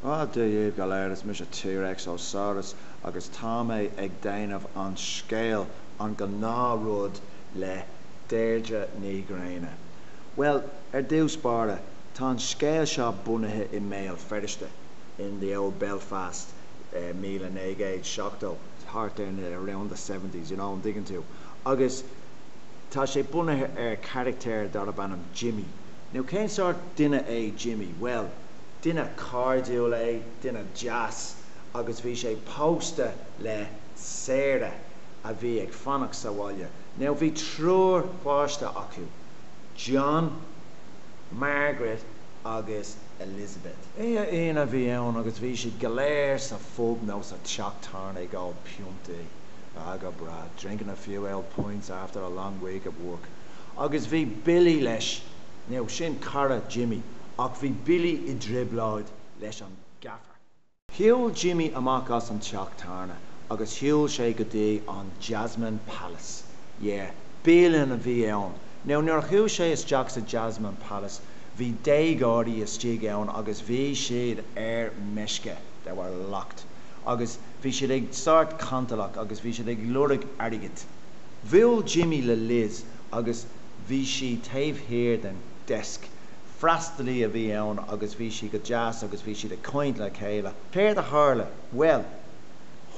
Ó, Dia daoibh go léir, is mise T-Rex ó Saurus agus tá mé ag déanamh an scéil, an gnáthrud, le Deirdre Ní Ghréine. Bhuel, ar dtús báire, tá an scéal seo bunaithe i mBéal Feirste, in the old Belfast, míle naoi gcéad seachtó, thart ar na, around the seventies, you know, an dtuigeann tú? Agus tá sé bunaithe ar charachtar darb ainm Jimmy. Now, cén sórt duine é Jimmy? Bhuel. Duine cairdiúil é, duine deas, agus bhí sé pósta le Sarah a bhí ag fanacht sa bhaile. Now bhí triúr pháiste acu, John, Margaret agus Elizabeth. Oíche Aoine a bhí ann agus bhí siad go léir sa phub nó sa teach tábhairne ag ól piontaí. Ah go breá, drinking a few old pints after a long week of work. Agus bhí Billy leis, now sin cara Jimmy, ach bhí Billy i dtrioblóid leis an gaffer. Shiúil Jimmy amach as an teach tábhairne agus shiúil sé go dtí an Jasmine Palace. Yeah, bialann a bhí ann. Now, nuair a shiúil sé isteach sa Jasmine Palace, bhí déagóirí istigh ann agus bhí siad ar meisce. They were locked. Agus bhí siad ag sórt cantalach agus bhí siad ag lorg airgid. Bhuail Jimmy le Liz agus bhí sí taobh thiar den desk. freastalaí a bhí ann agus bhí sí go deas agus bhí siad ag caint le chéile. Céard a tharla? Bhuel,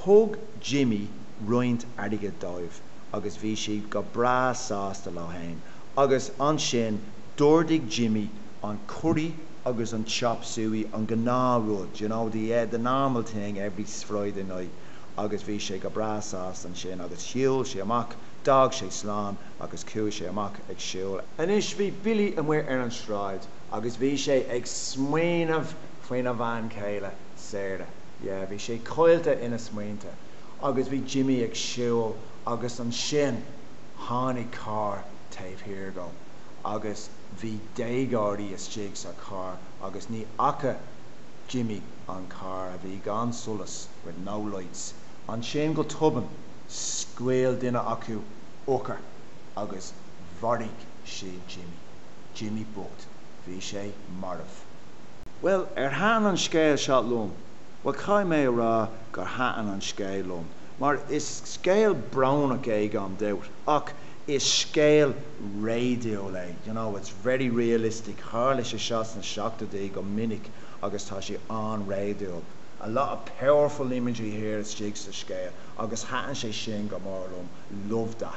thug Jimmy roinnt airgid dóibh agus bhí siad go breá sásta leo fhéin agus ansin d'ordaigh Jimmy an curry agus an chop suey, an gnáthrud, you know, the, yeah, the normal thing every Friday night agus bhí sé go breá sásta ansin agus shiúil sé amach, d'fhág sé slán. agus chuaigh sé amach ag siúl. Anois bhí Billy amuigh ar an sráid agus bhí sé ag smaoineamh faoina bhean chéile, Sarah. Yeah, bhí sé caillte ina smaointe agus bhí Jimmy ag siúl agus ansin tháinig carr taobh thiar dhó agus bhí déagóirí istigh sa charr agus ní fhaca Jimmy an carr, a bhí gan solas, with no lights. Ansin go tobann, scaoil duine acu. urchar agus mharaigh sé Jimmy, Jimmy bocht, bhí sé marbh. Bhuel, ar thaitin an scéal seo liom? Bhuel, caithfidh mé a rá gur thaitin an scéal liom, mar is scéal brónach é gan dabht, ach is scéal réadúil é, you know, it's very realistic, tharla sé seo sna seachtóidí go minic agus tá sé an-réadúil, a lot of powerful imagery here istigh sa scéal agus thaitin sé sin go mór liom. love that.